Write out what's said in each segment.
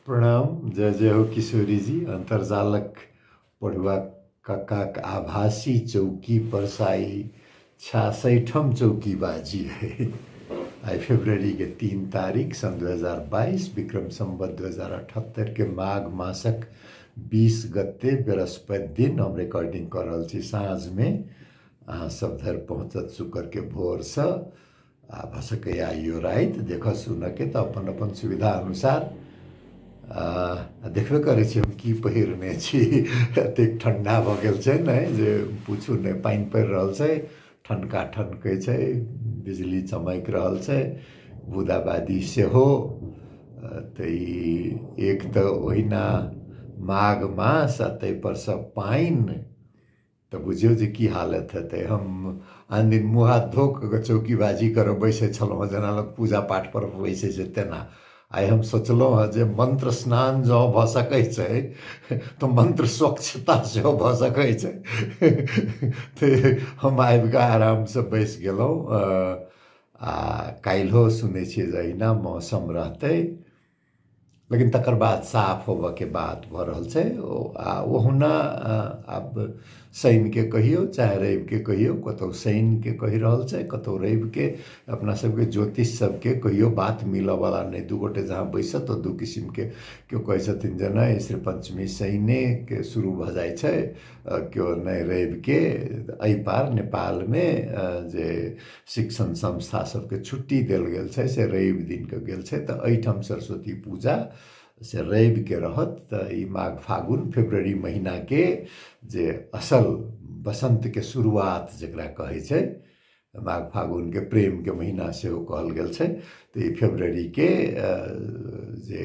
प्रणाम जय जय हो किशोरी जी अन्तर्जालक पढ़ुआ कक्काक आभासी चौकी परसाई छियासठम चौकी बाजी है आई फेब्रुअरी के तीन तारीख सन 2022 विक्रम संबत 2078 के माघ मासक 20 गते बृहस्पति दिन हम रिकॉर्डिंग कर रहल छी साँझ में अहाँ सब धरि पहुँचत शुक्र के भोर से आ भऽ सकैए आइयो राति देखऽ सुनऽके तऽ अपन अपन सुविधा अनुसार आ देखबे करै छी हम की पहिरने छी एतेक ठण्डा भऽ गेल छै ने जे पूछू नहि पानि पड़ि रहल छै ठनका ठनकै छै बिजली चमकि रहल छै बूदाबादी सेहो तऽ ई एक तऽ ओहिना माघ मास आ ताहिपर सँ पानि तऽ बुझियौ जे की हालत हेतै हम आन दिन मुँह हाथ धो कऽ चौकीबाजी करऽ बैसै छलहुँ हँ जेना लोक पूजा पाठ पर बैसै छै तेना आइ हम सोचलहुँ हँ जे मन्त्र स्नान जँ भऽ सकै छै तऽ मन्त्र स्वच्छता सेहो भऽ सकै छै तऽ हम आबि कऽ आराम सँ बैसि गेलहुँ आ काल्हिओ सुनै छियै जे अहिना मौसम रहतै लेकिन तकर बाद साफ होबऽके बात भऽ रहल छै ओ आ ओहुना अ, आब शनिके कहियौ चाहे रविके कहियौ कतहु शनिके कहि रहल छै कतहु रविके अपना सबके ज्योतिष सबके कहियो बात मिलऽवला नहि दू गोटे जहाँ बैसत तऽ दू किसिमके केओ कहै छथिन जे नहि श्री पञ्चमी शनिके शुरू भऽ जाइ छै अ, केओ नहि रविके एहि पार नेपालमे अ, जे शिक्षण संस्था सबके छुट्टी देल गेल छै से रवि दिनके गेल छै तऽ एहिठाम सरस्वती पूजा से रविके रहत तऽ ई माघ फागुन फेब्रुअरी महिनाके जे असल बसन्तके शुरुआत जकरा कहै छै माघ फागुनके प्रेमके महिना सेहो कहल गेल छै तऽ ई फेब्रुअरीके जे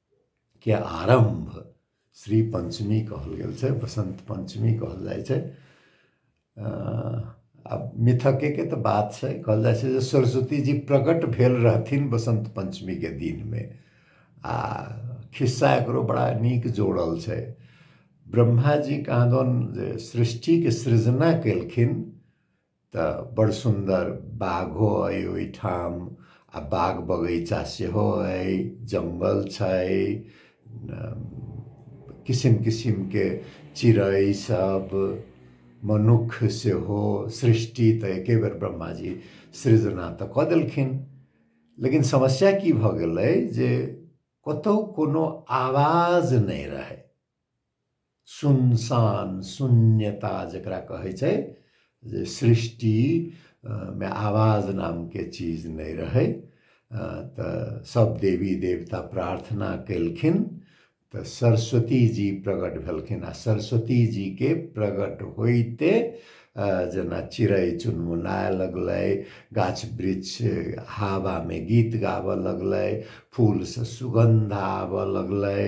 के आरम्भ श्री पञ्चमी कहल गेल छै बसन्त पञ्चमी कहल जाइ छै आ मिथकेके तऽ बात छै कहल जाइ छै जे सरस्वतीजी प्रकट भेल रहथिन बसन्त पञ्चमीके दिनमे आ खिस्सा एकरो बड़ा नीक जोड़ल छै ब्रह्माजी कहाँ दन जे सृष्टिके सृजना केलखिन तऽ बड़ सुन्दर बाघो अइ ओहिठाम आ बाग बगैचा सेहो अइ जङ्गल छै किसिम किसिमके चिड़ै सब मनुख सेहो सृष्टि तऽ एके बेर ब्रह्मा जी सृजना तऽ कऽ देलखिन लेकिन समस्या की भऽ गेलै जे कतहु कोनो आवाज नहि रहै सुनसान शून्यता जकरा कहै छै जे सृष्टि मे आवाज नामके चीज नहि रहै तऽ सब देवी देवता प्रार्थना केलखिन तऽ सरस्वती जी प्रगट भेलखिन आ सरस्वती जीके प्रगट होइते जेना चिड़ै चुनमुनाय लगलै गाछ वृक्ष हवामे गीत गाबय लगलै फूलसँ सुगन्ध आबय लगलै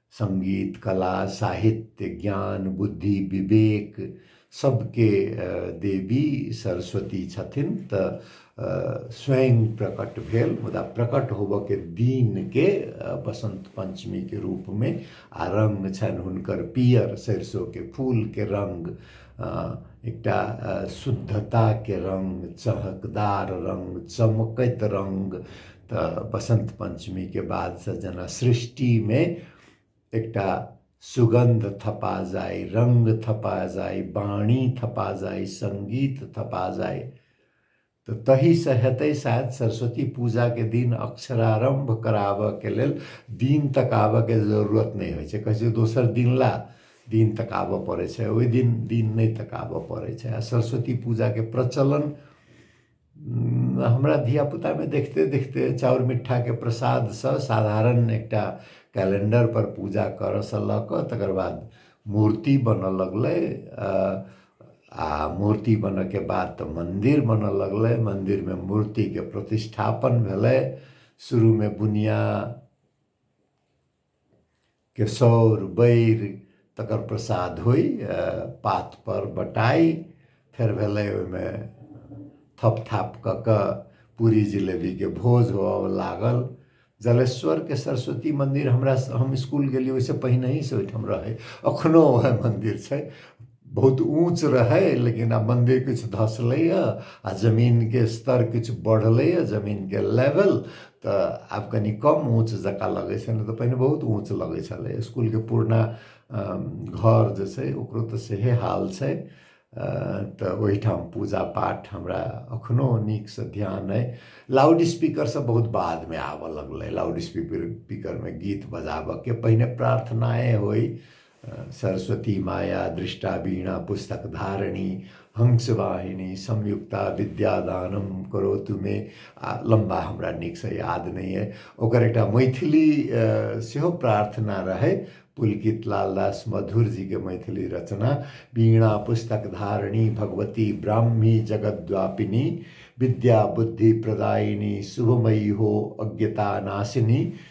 संगीत कला साहित्य ज्ञान बुद्धि विवेक सबके देवी सरस्वती छथिन तऽ स्वयं प्रकट भेल मुदा प्रकट होबऽके दिनके बसन्त पञ्चमीके रूपमे आ रङ्ग छनि हुनकर पियर सरिसोके फूलके रङ्ग एकटा शुद्धताके रङ्ग चहकदार रङ्ग चमकैत रङ्ग तऽ बसन्त पञ्चमीके बादसँ जेना सृष्टिमे एकटा सुगन्ध थपा जाय रङ्ग थपा जाय बाणी थपा जाय सङ्गीत थपा जाय तऽ तहीसँ हेतै शायद सरस्वती पूजाके दिन अक्षरारम्भ कराबऽके लेल दिन तकाबऽके जरूरत नहि होइ छै कहै छै दोसर दिन ला दिन तकाबऽ पड़ै छै ओहि दिन दिन नहि तकाबऽ पड़ै छै आ सरस्वती पूजाके प्रचलन हमरा धियापुतामे देखिते देखिते चाउर मिठाके प्रसादसँ साधारण एकटा कैलेंडरपर पूजा करयसँ लऽ कऽ तकर बाद मूर्ति बनय लगलै आ मूर्ति बनयके बाद तऽ मन्दिर बनय लगलै मन्दिरमे मूर्तिके प्रतिष्ठापन भेलै शुरूमे बुनिया केसौर बैर तकर प्रसाद होइ पातपर बटाइ फेर भेलै ओहिमे थप थाप कऽ कऽ पूरी जिलेबीके भोज होअ लागल जलेश्वरके सरस्वती मन्दिर हमरा हम इसकुल गेलियै ओहिसँ पहिनहिसँ ओहिठाम रहै एखनहु उएह मन्दिर छै बहुत ऊँच रहै लेकिन आब मन्दिर किछु धसलैए आ जमीनके स्तर किछु बढ़लैए जमीनके लेवल तऽ आब कनि कम ऊँच जकाँ लगै छै नहि तऽ पहिने बहुत ऊँच लगै छलै इसकुलके पुरना घर जे छै ओकरो तऽ सेहे हाल छै तऽ ओहिठाम पूजा पाठ हमरा एखनो नीकसँ ध्यान अइ लाउड स्पीकरसँ बहुत बादमे आबय लगलै लाउड स्पीकर स्पीकरमे गीत बजाबयके पहिने प्रार्थनाए होय सरस्वती माया दृष्टा वीणा पुस्तक धारणी हंस वाहिनी संयुक्ता विद्यादानम करो तुमे आ लम्बा हमरा नीकसँ याद नहि अइ ओकर एकटा मैथिली सेहो प्रार्थना रहै पुलकित लालदास मधुर जी के मैथिली रचना वीणा पुस्तक धारणी भगवती ब्राह्मी जगद्वापिनी विद्या बुद्धि प्रदायिनी शुभमयी हो अज्ञता नाशिनी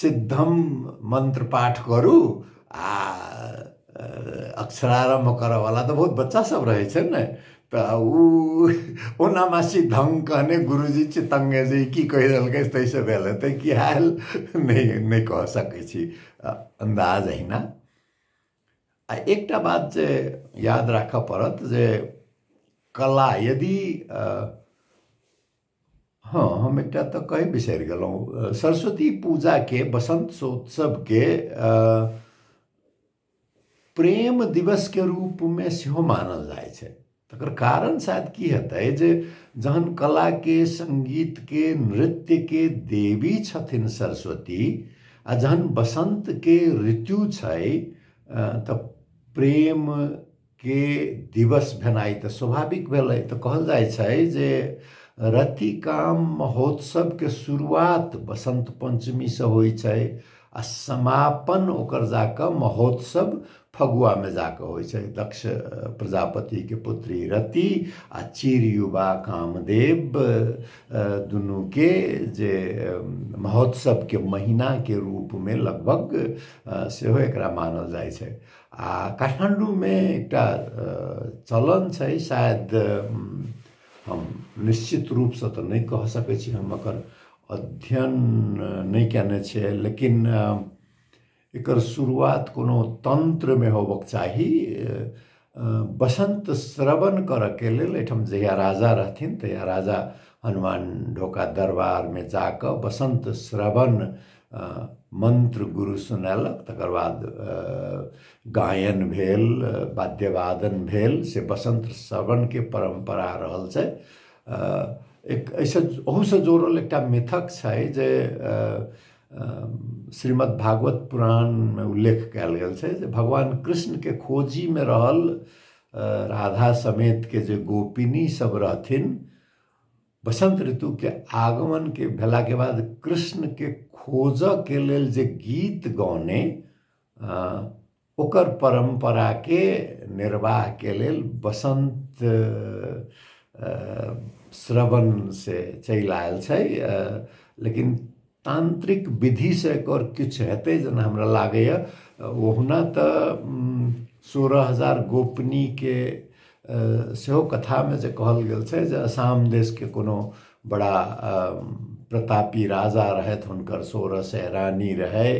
सिद्धम मंत्र पाठ करू आ अक्षरारम्भ करऽवला तऽ बहुत बच्चा सब रहै छै ने तऽ ओ ओना मे सिद्धम कहने गुरुजी चितङ्गे जे ई की कहि देलकै ताहि से भेल हेतै कि आयल नहि नहि कह सकै छी अन्दाज अहिना आ एकटा बात जे याद राखऽ पड़त जे कला यदि हँ हम एकटा तऽ कहि बिसरि गेलहुँ सरस्वती पूजाके बसन्तोत्सवके प्रेम दिवसके रूपमे सेहो मानल जाइ छै तकर कारण शायद की हेतै जे जहन कलाके सङ्गीतके नृत्यके देवी छथिन सरस्वती आ जहन बसन्तके ऋतु छै तऽ प्रेम के दिवस भेनाइ तऽ स्वाभाविक भेलै तऽ कहल जाइ छै जे रतिकाम महोत्सवके शुरुआत बसंत पंचमीसँ होइ छै आ समापन ओकर जाकऽ महोत्सव फगुआमे जाकऽ होइ छै दक्ष प्रजापतिके पुत्री रति आ चिर युवा कामदेव दुनूके जे महोत्सवके महीनाके रूपमे लगभग सेहो एकरा मानल जाइ छै काठमाण्डूमे एकटा चलन छै शायद हम निश्चित रूपसँ तऽ नहि कह सकै छी हम एकर अध्ययन नहि कयने छियै लेकिन एकर शुरुआत कोनो तन्त्रमे होबक चाही बसन्त श्रवण करऽके लेल एहिठाम जहिया राजा रहथिन तहिया राजा हनुमान ढोका दरबारमे जाकऽ बसन्त श्रवण मन्त्र गुरु सुनेलक तकर बाद गायन भेल वाद्यवादन भेल से बसन्त श्रवणके परम्परा रहल छै एक एहिसँ ओहूसँ जोड़ल एकटा मिथक छै जे श्रीमद् भागवत पुराणमे उल्लेख कयल गेल छै जे भगवान कृष्णके खोजीमे रहल राधा समेतके जे गोपिनी सब रहथिन बसंत ऋतु के आगमन के भेला के बाद कृष्ण के खोज के लेल जे गीत गौने ओकर परंपरा के निर्वाह के लेल बसंत श्रवण से चलि आयल छै लेकिन तान्त्रिक विधिसँ एकर किछु हेतै जेना हमरा लागैए ओहुना तऽ सोरह हजार गोपनीके सेहो कथामे जे कहल गेल छै जे असाम देशके कोनो बड़ा प्रतापी राजा रहथि हुनकर सोरह सए रानी रहय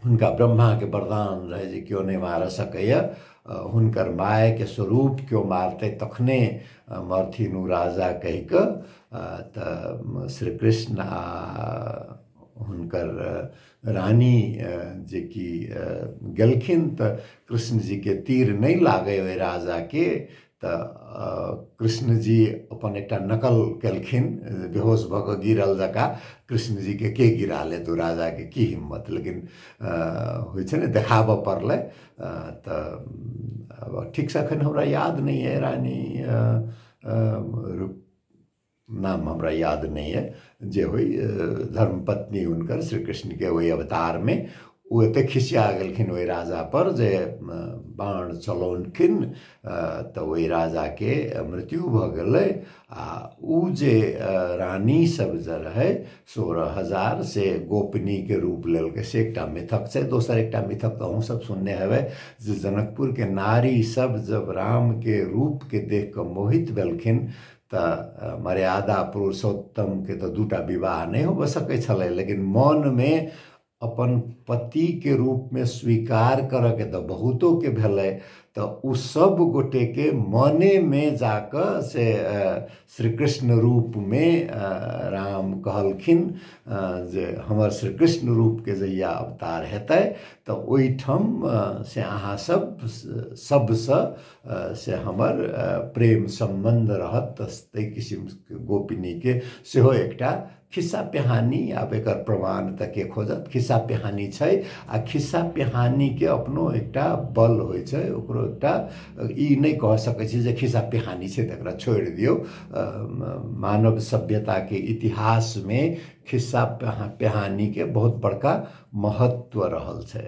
हुनका ब्रह्माके वरदान रहै जे केओ नहि मारऽ सकैए हुनकर मायके स्वरूप केओ मारतै तखने मरथिन ओ राजा कहि कऽ तऽ श्री कृष्ण आ हुनकर रानी जेकि गेलखिन तऽ कृष्णजीके तीर नहि लागय ओहि राजाके तऽ कृष्णजी अपन एकटा नकल केलखिन बेहोश भऽ कऽ गिरल जकाँ कृष्णजीके के गिरा लेत ओ राजाके की हिम्मत लेकिन होइ छै ने देखाबऽ पड़लै तऽ ठीकसँ एखन हमरा याद नहि अइ रानी रूप नाम हमरा याद नहि यऽ जे होइ धर्म पत्नी हुनकर श्री कृष्णके ओहि अवतारमे ओ एते खिसिया गेलखिन ओहि राजा पर जे बाण चलौलखिन तऽ ओहि राजाके मृत्यु भऽ गेलै आ ओ जे रानी सब जे रहै सोलह हजार से गोपनीके रूप लेलकै से एकटा मिथक छै दोसर एकटा मिथक तऽ अहूँ सब सुनने हेबै जे जनकपुरके नारी सब जब रामके रूपके देख कऽ मोहित भेलखिन तऽ मर्यादा पुरुषोत्तमके तऽ दूटा विवाह नहि होबऽ सकै छलै लेकिन मनमे अपन पतिके रूपमे स्वीकार करऽके तऽ बहुतोके भेलै तऽ ओ सब गोटेके मनेमे जाकऽ से श्री कृष्ण रूपमे राम कहलखिन जे हमर श्री कृष्ण रूपके जहिया अवतार हेतै तऽ ओहिठाम से अहाँ सब सबसँ से हमर प्रेम सम्बन्ध रहत तऽ ताहि किसिमके गोपनीके सेहो एकटा खिस्सा पिहानी आब एकर प्रमाण तऽ के खोजत खिस्सा पिहानी छै आ खिस्सा पिहानीके अपनो एकटा बल होइ छै ओकरो एकटा ई नहि कह सकै छी जे खिस्सा पिहानी छै तऽ एकरा छोड़ि दियौ मानव सभ्यताके इतिहासमे खिस्सा पिहानीके बहुत बड़का महत्व रहल छै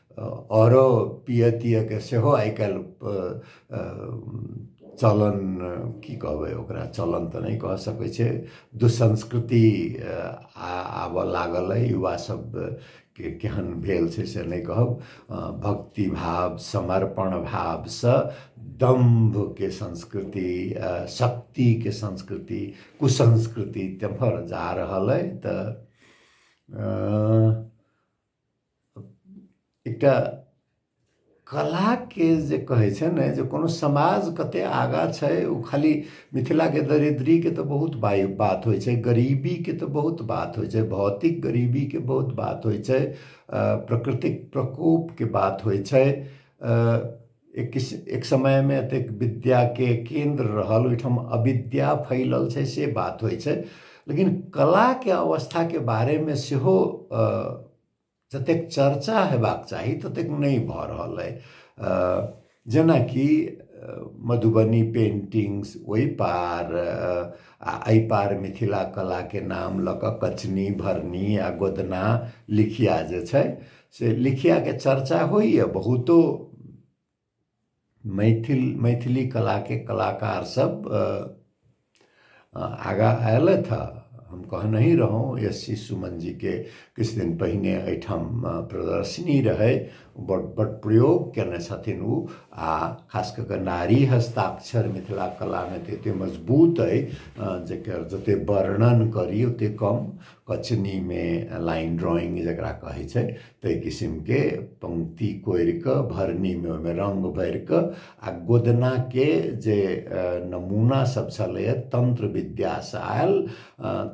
अरो पिय तियके सेहो आइ काल्हि चलन की कहबै ओकरा चलन तऽ नहि कह सकै छै दुसंस्कृति आबऽ लागल अइ युवा सब के केहन भेल छै से नहि कहब भक्ति भाव समर्पण भावसँ दम्भके संस्कृति शक्तिके संस्कृति कुसंस्कृति तेम्हर जा रहल अइ तऽ एकटा कलाके जे कहै छै ने जे कोनो समाज कते आगाँ छै ओ खाली मिथिलाके दरिद्रीके तऽ बहुत बाइ बात होइ छै गरीबीके तऽ बहुत बात होइ छै भौतिक गरीबीके बहुत बात होइ छै प्रकृतिक प्रकोपके बात होइ छै एक एक समयमे एतेक विद्याके केन्द्र रहल ओहिठाम अविद्या फैलल छै से बात होइ छै लेकिन कलाके अवस्थाके बारेमे सेहो जतेक चर्चा हेबाक चाही ततेक नहि भऽ रहल अइ जेनाकि मधुबनी पेन्टिंग्स ओहि पार आ एहि पार मिथिला कलाके नाम लऽ कऽ कचनी भरनी आ गोदना लिखिया जे छै से लिखियाके चर्चा होइए बहुतो मैथिल मैथिली कलाके कलाकार सब आगाँ अयलथि हँ हम कहनहि रहौँ एस सी सुमन जीके किछु दिन पहिने एहिठाम प्रदर्शनी रहै बड़ बड़ प्रयोग कयने छथिन ओ आ खास कऽ कऽ नारी हस्ताक्षर मिथिला कलामे तऽ एतेक मजबूत अइ जकर जतेक वर्णन करी ओतेक कम कचनीमे लाइन ड्रॉइंग जकरा कहै छै ताहि किसिमके पंक्ति कोरि कऽ भरनीमे ओहिमे रंग भरि कऽ आ गोदनाके जे नमूना सब छलैए तंत्र विद्यासँ आयल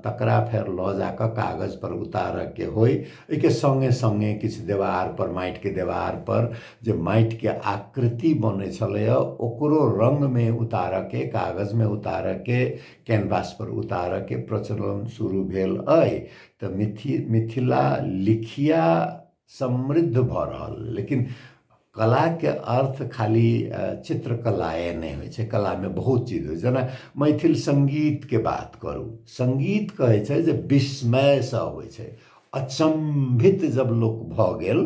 तकरा फेर लऽ जा कऽ कागज पर उतारऽके होइ एहिके संगे संगे किछु देवार पर माटिके देवार पर जे माटिके आकृति बनै छलैए ओकरो रंगमे उतारऽके कागजमे उतारऽके कैनवास पर उतारऽ के प्रचलन शुरू भेल अइ तऽ मिथि मिथिला लिखिया समृद्ध भऽ रहल लेकिन कला के अर्थ खाली चित्रकलाए नहि होइ छै कला में बहुत चीज होइ छै जेना मैथिल संगीत के बात करू संगीत कहै छै जे विस्मय से अबै छै अचंभित जब लोक भऽ गेल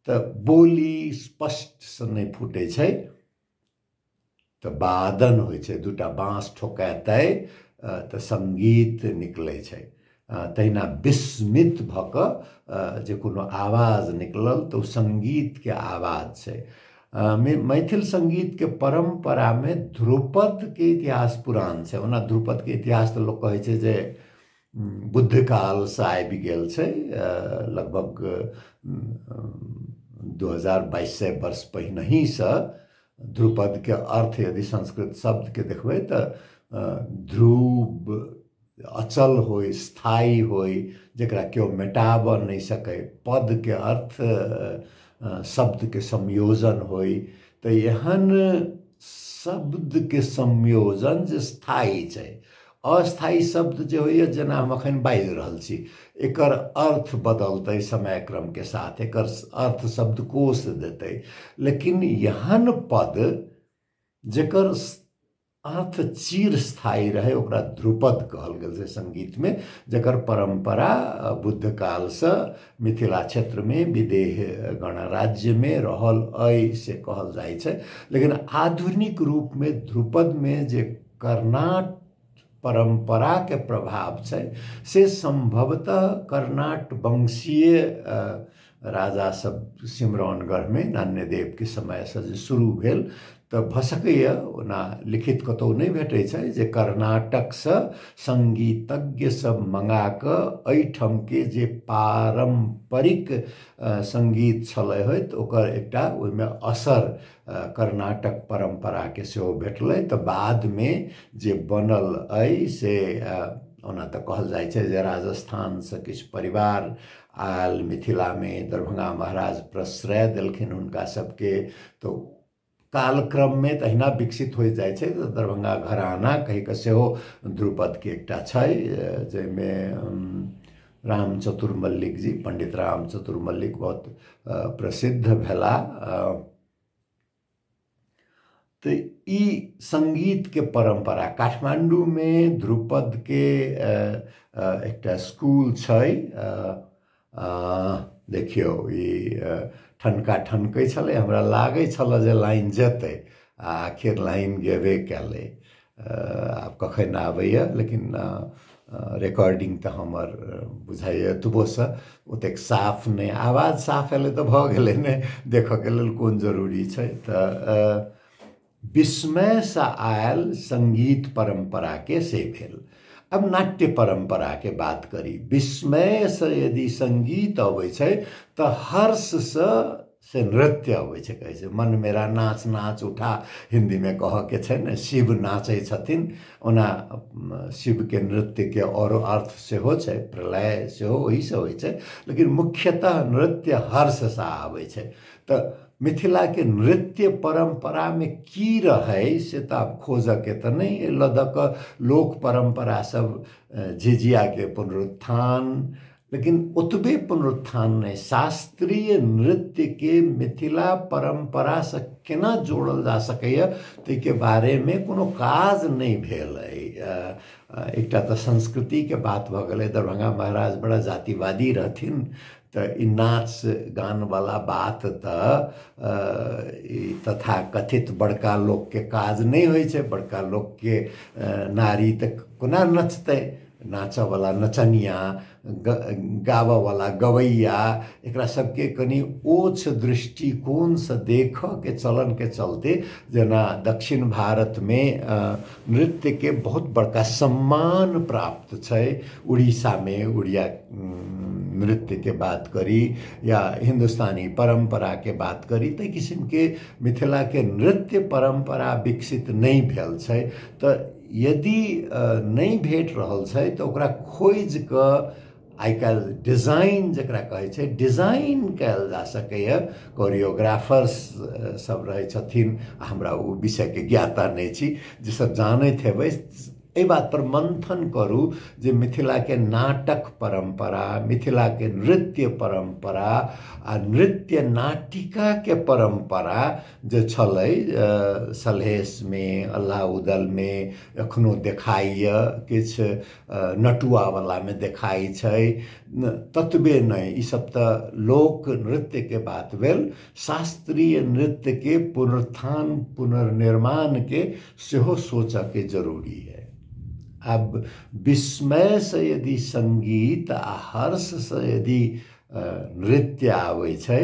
तऽ बोली स्पष्ट से नहि फूटै छै तऽ बादन होइ छै दूटा बाँस ठोकेतै तऽ सङ्गीत निकलै छै तहिना विस्मित भऽ कऽ जे कोनो आवाज निकलल तऽ ओ सङ्गीतके आवाज छै मैथिल सङ्गीतके परम्परामे ध्रुपदके इतिहास पुरान छै ओना ध्रुपदके इतिहास तऽ लोक कहै छै जे बुद्धकाल से आबि गेल छै लगभग दू हजार बाइस सय वर्ष पहिनहीसँ ध्रुपदके अर्थ यदि संस्कृत शब्दके देखबै तऽ ध्रुव अचल होइ स्थायी होइ जकरा केओ मेटाबऽ नहि सकै पदके अर्थ शब्दके संयोजन होइ तऽ एहन शब्दके संयोजन जे स्थायी छै अस्थायी शब्द जे होइए जेना हम एखन बाजि रहल छी एकर अर्थ बदलतै समय क्रमके साथ एकर अर्थ शब्दकोश देतै लेकिन एहन पद जकर अर्थ चिरस्थायी रहै ओकरा ध्रुपद कहल गेल छै सङ्गीतमे जकर परम्परा बुद्ध कालसँ मिथिला क्षेत्रमे विदेह गणराज्यमे रहल अइ से कहल जाइ छै लेकिन आधुनिक रूपमे ध्रुपदमे जे कर्नाट परम्पराके प्रभाव छै से सम्भवतः कर्नाट वंशीय राजा सब सिमरौनगढ़मे नान्यदेवके समयसँ जे शुरू भेल तऽ भऽ सकैए ओना लिखित कतहु नहि भेटै छै जे कर्नाटकसँ सङ्गीतज्ञ सब मँगा कऽ एहिठामके जे पारम्परिक सङ्गीत छलै होइत ओकर एकटा ओहिमे असर कर्नाटक परम्पराके सेहो भेटलै तऽ बादमे जे बनल अइ से ओना तऽ कहल जाइ छै जे राजस्थानसँ किछु परिवार आयल मिथिलामे दरभंगा महाराज प्रश्रय देलखिन हुनका सभके तऽ कालक्रममे तहिना विकसित होइत जाइ छै तऽ दरभंगा घराना कहि कऽ सेहो ध्रुपदके एकटा छै जाहिमे राम चतुर मल्लिक जी पंडित राम चतुर मल्लिक बहुत प्रसिद्ध भेला तो ई संगीत के परंपरा काठमांडू में ध्रुपद के एक स्कूल छै देखियो ई ठनका ठनकै छलै हमरा लागै छल जे लाइन जेतै आ आखिर लाइन गेबे कयलै आब कखन आबैए लेकिन रिकॉर्डिंग तऽ हमर बुझाइए एतबोसँ ओतेक साफ नहि आवाज साफ एलै तऽ भऽ गेलै ने देखऽके लेल कोन जरूरी छै तऽ विस्मयसँ आयल सङ्गीत परम्पराके से भेल अब नाट्य परम्परा के बात करी विस्मय से यदि संगीत अबै छै तऽ हर्ष से से नृत्य होइ छै कहै छै मन मेरा नाच नाच उठा हिन्दीमे कहऽके छै ने शिव नाचै छथिन ओना शिवके नृत्यके आओर अर्थ सेहो छै प्रलय सेहो ओहिसँ होइ छै लेकिन मुख्यतः नृत्य हर्षसँ आबै छै तऽ मिथिलाके नृत्य परम्परामे की रहै से तऽ आब खोजऽके तऽ नहि एहि लऽ दऽ कऽ लोक परम्परा सब झिझियाके पुनरुत्थान लेकिन ओतबे पुनरुत्थान नहि शास्त्रीय नृत्य के मिथिला परंपरा से केना जोड़ल जा सकैए ताहिके बारेमे कोनो काज नहि भेल अइ एकटा तऽ संस्कृतिके बात भऽ गेलै दरभंगा महाराज बड़ा जातिवादी रहथिन तऽ ई नाच गानवला बात तऽ ई तथा कथित बड़का लोकके काज नहि होइ छै बड़का लोकके नारी तऽ कोना नचतै नाचऽवला नचनिया ग गाबऽवला गबैया एकरा सबके कनि ओछ दृष्टिकोणसँ देखऽके चलनके चलते जेना दक्षिण भारतमे नृत्यके बहुत बड़का सम्मान प्राप्त छै उड़ीसामे उड़िया नृत्यके बात करी या हिन्दुस्तानी परम्पराके बात करी तऽ किसिमके मिथिलाके नृत्य परम्परा विकसित नहि भेल छै तऽ यदि नहि भेट रहल छै तऽ ओकरा खोजि कऽ आइ काल्हि डिजाइन जकरा कहै छै डिजाइन कयल जा सकैए कोरियोग्राफर्स सब रहै छथिन आ हमरा ओ विषयके ज्ञाता नहि छी जे सब जानैत हेबै एहि बातपर मन्थन करू जे मिथिलाके नाटक परम्परा मिथिलाके नृत्य परम्परा आ नृत्य नाटिकाके परम्परा जे छलै सलहेशमे अल्लाह उदलमे एखनो देखाइए किछु नटुआवलामे देखाइ छै ततबे नहि ईसब तऽ लोक नृत्यके बात भेल शास्त्रीय नृत्यके पुनरुत्थान पुनर्निर्माणके सेहो सोचऽके जरूरी अइ आब विस्मयसँ यदि सङ्गीत आओर हर्षसँ यदि नृत्य आबै छै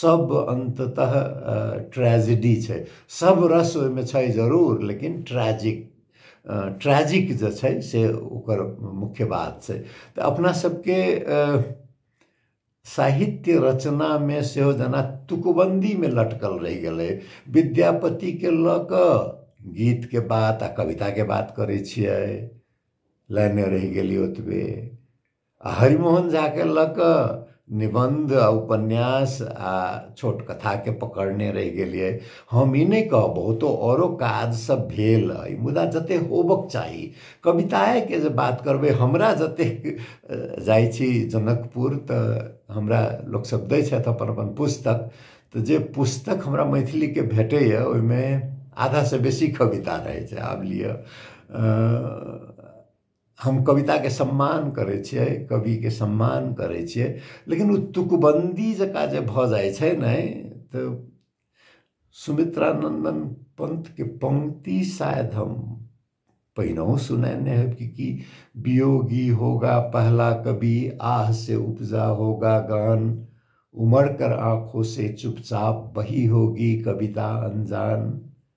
सब अन्ततः ट्रेजेडी छै सब रस ओहिमे छै जरूर लेकिन ट्रेजिक ट्रेजिक जे छै से ओकर मुख्य बात छै तऽ अपना सबके साहित्य रचनामे सेहो जेना तुकबन्दीमे लटकल रहि गेलै विद्यापतिके लऽ कऽ गीतके बात आ कविताके बात करै छियै लाइने रहि गेली ओतबे आ हरिमोहन झाके लऽ कऽ निबन्ध आ उपन्यास आ छोट कथाके पकड़ने रहि गेलियै हम ई नहि कहब बहुतो औरो काजसभ भेल अइ मुदा जते होबक चाही कविताएके जे बात करबै हमरा जतेक जाइ छी जनकपुर तऽ हमरा लोकसभ दै छथि अपन अपन पुस्तक तऽ जे पुस्तक हमरा मैथिलीके भेटैए ओहिमे आधासँ बेसी कविता रहै छै आब लिअ हम कविताके सम्मान करै छियै कविके सम्मान करै छियै लेकिन ओ तुकबन्दी जकाँ जे भऽ जाइ छै ने तऽ सुमित्रानन्दन पंथके पंक्ति शायद हम पहिनहु सुनेने है कि की वियोगी होगा पहला कवि आह से उपजा होगा गान उमड़ कर आंखों से चुपचाप बही होगी कविता अनजान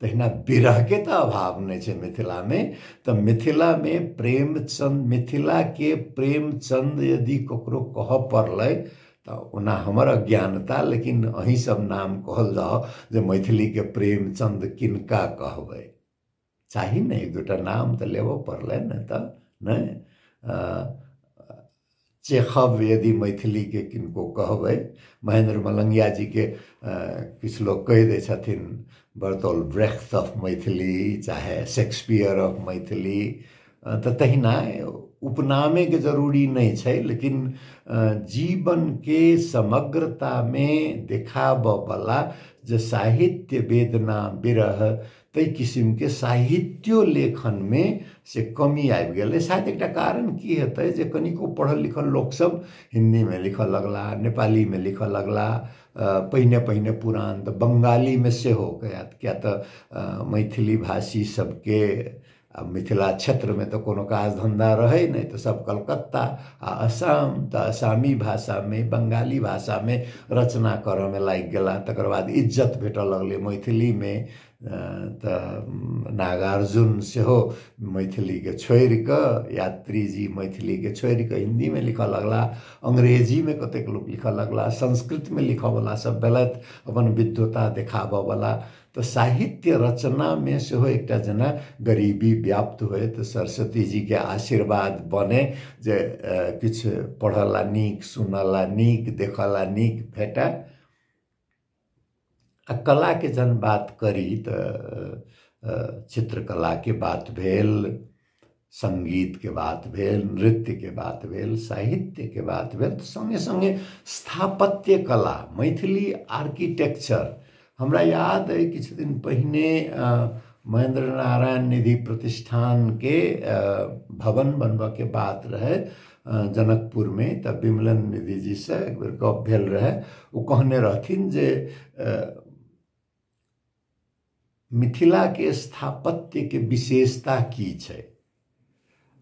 तहिना विरहके तऽ अभाव नहि छै मिथिलामे तऽ मिथिलामे प्रेमचन्द मिथिलाके प्रेमचन्द यदि ककरो कहऽ पड़लै तऽ ओना हमर अज्ञानता लेकिन अहीं सब नाम कहल जाउ जे मैथिलीके प्रेमचन्द किनका कहबै चाही ने एक दूटा नाम तऽ लेबऽ पड़लै ने तऽ नहि चेखव यदि मैथिलीके किनको कहबै महेन्द्र मलंगिया जीके किछु लोक कहि दै छथिन बर्तौल ब्रेख्त ऑफ मैथिली चाहे शेक्सपियर ऑफ मैथिली तऽ तहिना उपनामेके जरूरी नहि छै लेकिन जीवनके समग्रतामे देखाबयवला जे साहित्य वेदना विरह ताहि किसिमके साहित्यो लेखनमे से कमी आबि गेलै शायद एकटा कारण की हेतै जे कनिको पढ़ल लिखल लोकसभ हिंदीमे लिखय लगलाह नेपालीमे लिखय लगलाह पहिने पहिने पुरान तऽ बंगालीमे सेहो किएक तऽ मैथिली भाषी सभके आओर मिथिला क्षेत्रमे तऽ कोनो काज धन्धा रहै नहि तऽ सब कलकत्ता आओर असाम तऽ असामी भाषामे बंगाली भाषामे रचना करऽमे लागि गेला तकर बाद इज्जत भेटऽ लगलै मैथिलीमे तऽ नागार्जुन सेहो मैथिलीके छोड़िकऽ यात्री जी मैथिलीके छोड़िकऽ हिन्दीमे लिखऽ लगला अंग्रेजीमे कतेक लोक लिखऽ लगला संस्कृतमे लिखऽवला सब भेलथि अपन विद्वता देखाबऽवला तऽ साहित्य रचनामे सेहो एकटा जेना गरीबी व्याप्त होय तऽ सरस्वती जीके आशीर्वाद बने जे किछु पढ़ऽला नीक सुनऽला नीक देखऽला नीक भेटय आ कलाके जहन बात करी तऽ चित्रकलाके बात भेल सङ्गीतके बात भेल नृत्यके बात भेल साहित्यके बात भेल तऽ सङ्गे सङ्गे स्थापत्य कला मैथिली आर्किटेक्चर हमरा याद अइ किछु दिन पहिने महेन्द्र नारायण निधि प्रतिष्ठानके भवन बनबऽके बात रहै जनकपुरमे तऽ विमलन निधि जीसँ एक बेर गप भेल रहै ओ कहने रहथिन जे मिथिला के स्थापत्य के विशेषता की छै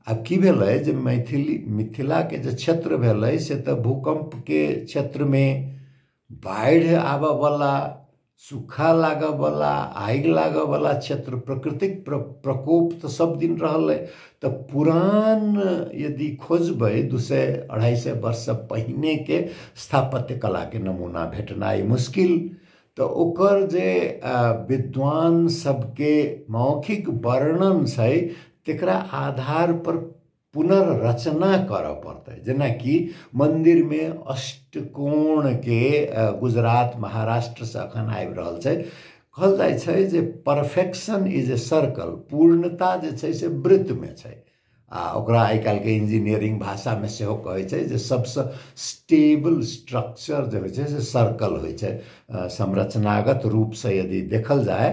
आब की भेलै जे मैथिली मिथिला के जे क्षेत्र भेलै से तऽ भूकंप के क्षेत्र मे बाढ़ि आबऽ बला सूखा लागऽ बला आगि लागऽ बला क्षेत्र प्रकृतिक प्रकोप तऽ सब दिन रहलै तऽ पुरान यदि खोजबै दू सए अढ़ाई सए वर्ष से पहिने के स्थापत्य कला के नमूना भेटनाइ मुश्किल तऽ ओकर जे विद्वान सबके मौखिक वर्णन छै तकरा आधारपर पुनर्रचना करऽ पड़तै जेनाकि मन्दिरमे अष्टकोणके गुजरात महाराष्ट्रसँ एखन आबि रहल छै कहल जाइ छै जे परफेक्शन इज ए सर्कल पूर्णता जे छै से वृत्तमे छै आ ओकरा आइ काल्हिके इंजीनियरिंग भाषामे सेहो कहै छै जे सभसँ स्टेबल स्ट्रक्चर जे होइ छै से सर्कल होइ छै संरचनागत रूपसँ यदि देखल जाय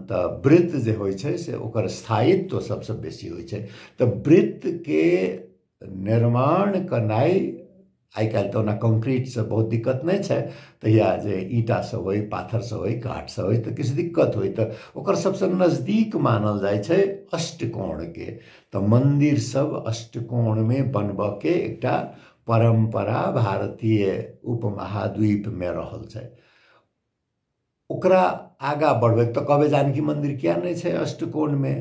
तऽ वृत्त जे होइ छै से ओकर स्थायित्व सभसँ बेसी होइ छै तऽ वृत्तके निर्माण केनाइ आइ काल्हि तऽ ओना कंक्रीटसँ बहुत दिक्कत नहि छै तहिया जे ईंटासँ होइ पाथरसँ होइ काठसँ होइ तऽ किछु दिक्कत होइ तऽ ओकर सभसँ नजदीक मानल जाइ छै अष्टकोणके तऽ मन्दिर सभ अष्टकोणमे बनबऽके एकटा परम्परा भारतीय उपमहाद्वीपमे रहल छै ओकरा आगाँ बढ़बै तऽ कहबै जानकी मन्दिर किया नहि छै अष्टकोणमे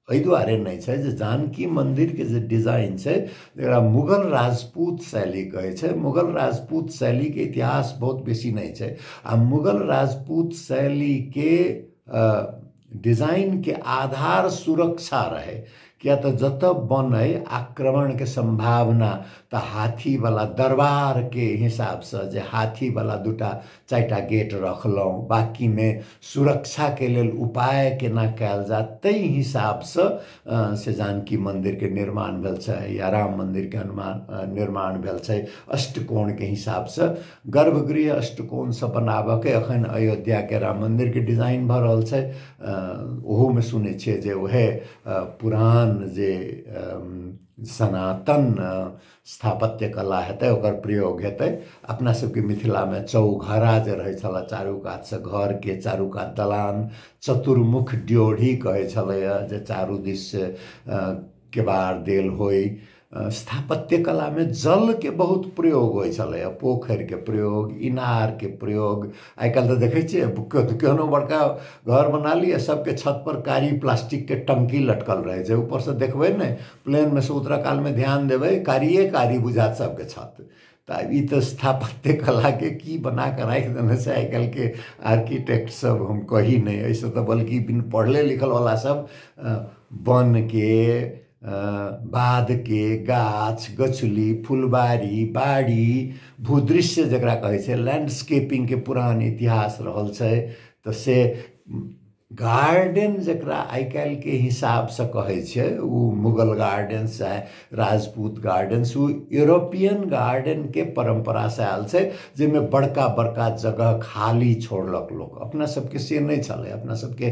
एहि दुआरे नहि छै जे जानकी मन्दिरके जे डिजाइन छै जकरा मुगल राजपूत शैली कहै छै मुगल राजपूत शैलीके इतिहास बहुत बेसी नहि छै आ मुगल राजपूत शैलीके डिजाइनके आधार सुरक्षा रहै किया तऽ जतऽ बनै आक्रमणके सम्भावना तऽ हाथीवला दरबारके हिसाबसँ जे हाथीवला दूटा चारिटा गेट रखलहुँ बाँकीमे सुरक्षाके लेल उपाय केना कयल जाय ताहि हिसाबसँ से जानकी मन्दिरके निर्माण भेल छै या राम मन्दिरके हनुमान निर्माण भेल छै अष्टकोणके हिसाबसँ गर्भगृह अष्टकोणसँ बनाबयके एखन अयोध्याके राम मन्दिरके डिजाइन भऽ रहल छै ओहोमे सुनै छियै जे उएह पुरान जे सनातन स्थापत्य कला हेतै ओकर प्रयोग हेतै अपना सबके मिथिलामे चौघरा जे रहै छलै चारू कातसँ घरके चारू कात दलान चतुर्मुख ड्योढ़ी कहै छलैए जे चारू दिससँ केबार देल होइ स्थापत्य कलामे जलके बहुत प्रयोग होइ छलैए पोखरिके प्रयोग इनारके प्रयोग आइ काल्हि तऽ देखै छियै केओ तऽ केहनो बड़का घर बना लिअ सभके छत पर कारी प्लास्टिकके टंकी लटकल रहै छै ऊपर से देखबै ने प्लेनमे से उतरऽ कालमे ध्यान देबै कारिये कारी बुझायत सभके छत तऽ आब ई तऽ स्थापत्य कलाके की बनाके राखि देने छै आइ काल्हिके आर्किटेक्ट सभ हम कही नहि एहि से तऽ बल्कि बिन पढ़ले लिखल बला सभ बान्हके बाधके गाछ गछली फुलबारी बाड़ी भूदृश्य जकरा कहै छै लैंडस्केपिंगके पुरान इतिहास रहल छै तऽ से गार्डन जकरा आइ काल्हिके हिसाबसँ कहै छै ओ मुगल गार्डन चाहे राजपूत गार्डन ओ यूरोपियन गार्डनके परम्परासँ आयल छै जाहिमे बड़का बड़का जगह खाली छोड़लक लोक अपना सभके से नहि छलै अपना सभके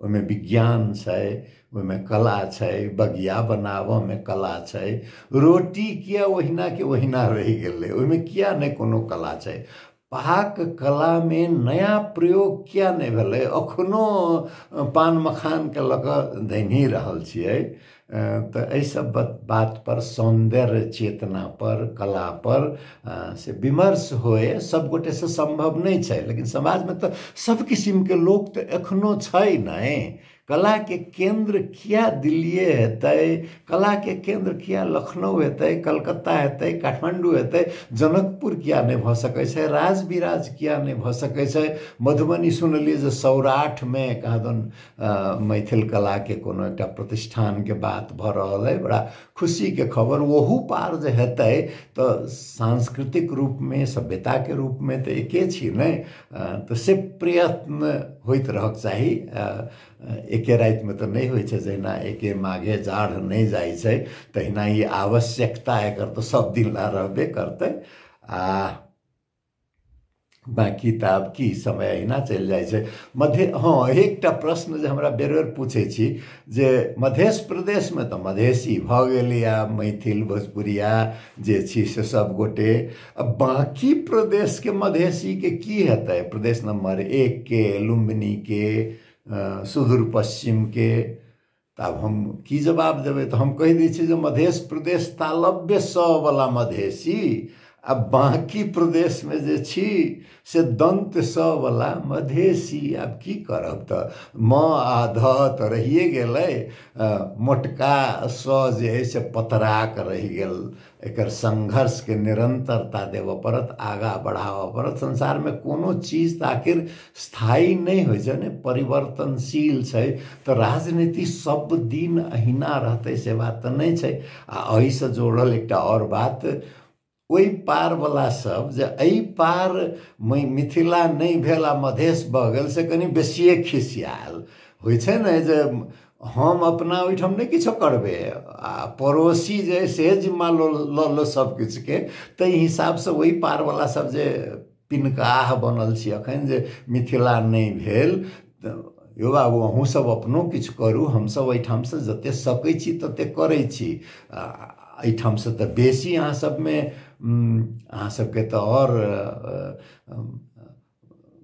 ओहिमे विज्ञान छै ओहिमे कला छै बगिया बनाबऽमे कला छै रोटी किए ओहिनाके ओहिना रहि गेलै ओहिमे किए नहि कोनो कला छै पाक कलामे नया प्रयोग किए नहि भेलै एखनो पान मखानके लऽ कऽ धैन्हि रहल छियै तऽ एहि सब बात पर सौन्दर्य चेतना पर कला पर से विमर्श होइ सब गोटे से सम्भव नहि छै लेकिन समाज मे तऽ सब किसिम के लोक तऽ एखनो छै नहि कला के केन्द्र किया दिल्लीए हेतै कला के केन्द्र किया लखनऊ हेतै कलकत्ता हेतै काठमाण्डू हेतै जनकपुर किया नहि भऽ सकै छै राज विराज किया नहि भऽ सकै छै मधुबनी सुनलियै जे सौराठ मे कहाँ दन मैथिल कलाके कोनो एकटा प्रतिष्ठानके बात भऽ रहल अइ बड़ा खुशीके खबर ओहू पार जे हेतै तऽ सांस्कृतिक रूपमे सभ्यताके रूपमे तऽ एके छी ने तऽ से प्रयत्न होइत रहक चाही एके रातिमे तऽ नहि होइ छै जहिना एके माघे जाढ़ नहि जाइ छै तहिना ई आवश्यकता एकर तऽ सभदिन लए रहबे करतै आ बाँकी तऽ आब की समय अहिना चलि जाइ छै मध्य हँ एकटा प्रश्न जे हमरा बेर बेर पूछै छी जे मधेश प्रदेशमे तऽ मधेशी भऽ गेलै आब मैथिल भोजपुरिया जे छी से सब गोटे आ बाँकी प्रदेशके मधेशीके की हेतै प्रदेश नम्बर एकके लुम्बिनीके सुदूर पश्चिमके तऽ आब हम की जवाब देबै तऽ हम कहि दै छी जे मधेश प्रदेश तालव्य सवला मधेशी आ बाँकी प्रदेशमे जे छी से दन्त सवला मधेशी आब की करब तऽ म आ ध तऽ रहिए गेलै मोटका स जे अइ से पतराक रहि गेल एकर संघर्षके निरंतरता देबऽ पड़त आगाँ बढ़ाबऽ पड़त संसारमे कोनो चीज तऽ आखिर स्थायी नहि होइ छै ने परिवर्तनशील छै तऽ राजनीति सब दिन अहिना रहतै से बात तऽ नहि छै आ एहिसँ जोड़ल एकटा आओर बात ओहि पारवला सब जे एहि पार मै- मिथिला नहि भेल आ मधेश भऽ गेल से कनि बेसिए खिसियाल होइ छै ने जे हम अपना ओहिठाम नहि किछो करबै आ पड़ोसी जे अइ से जिम्मा लऽ लऽ लऽ सभ किछुके ताहि हिसाबसँ ओहि पार बला सभ जे पिनकाह बनल छी अखन जे मिथिला नहि भेल तऽ यौ बाबू अहूँ सभ अपनो किछु करू हमसभ ओहिठामसँ जतेक सकै छी ततेक करै छी आ एहिठामसँ तऽ बेसी अहाँ सभमे अहाँ सभके तऽ आओर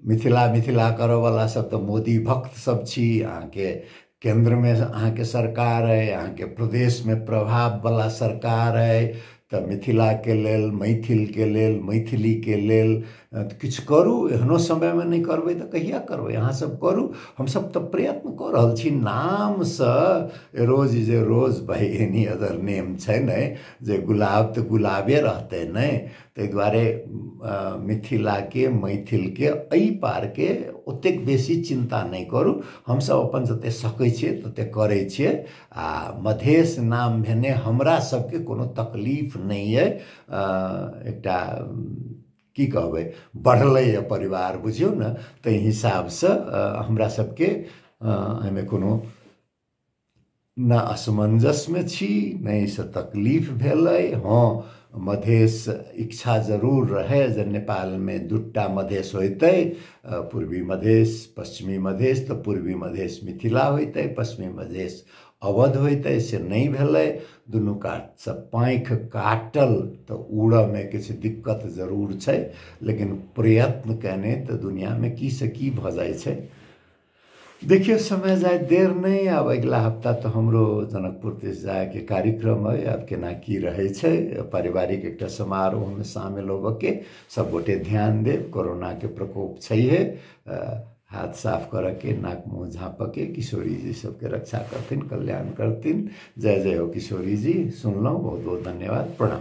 मिथिला मिथिला करऽवला सब तऽ मोदी भक्त सब छी अहाँके केन्द्रमे अहाँके सरकार अइ अहाँके प्रदेशमे प्रभाववला सरकार अइ तऽ मिथिलाके लेल मैथिलके लेल मैथिलीके लेल किछु करू एहनो समयमे नहि करबै तऽ कहिआ करबै अहाँसब करू हमसब तऽ प्रयत्न कऽ रहल छी नामसँ रोज is a rose by any other name छै ने जे गुलाब तऽ गुलाबे रहतै ने ताहि दुआरे मिथिलाके मैथिलके एहि पारके ओतेक बेसी चिन्ता नहि करू हमसभ अपन जतेक सकै छियै ततेक करै छियै आ मधेश नाम भेने हमरा सभके कोनो तकलीफ नहि अइ एकटा की कहबै बढ़लैए परिवार बुझियौ ने ताहि हिसाबसँ हमरा सभके एहिमे कोनो न असमञ्जसमे छी नहि से तकलीफ भेलै हँ मधेश इच्छा जरूर रहै जे नेपालमे दुट्टा मधेश होइतै पूर्वी मधेश पश्चिमी मधेश तऽ पूर्वी मधेश मिथिला होइतै पश्चिमी मधेश अवध होइतै से नहि भेलै दुनू कातसँ पाँखि काटल तऽ उड़ऽमे किछु दिक्कत जरूर छै लेकिन प्रयत्न कयने तऽ दुनिआँमे की से की भऽ जाइ छै देखिए समय जाए देर नहि आब अगिला हप्ता तऽ हमरो जनकपुर दिस जायके कार्यक्रम अइ आब केना की रहै छै पारिवारिक एकटा समारोहमे शामिल होबऽके सभगोटे ध्यान देब कोरोनाके प्रकोप छैहे हाथ साफ करऽके नाक मुँह झाँपऽके किशोरी जी सबके रक्षा करथिन कल्याण करथिन जय जय हो किशोरी जी सुनलहुँ बहुत बहुत धन्यवाद प्रणाम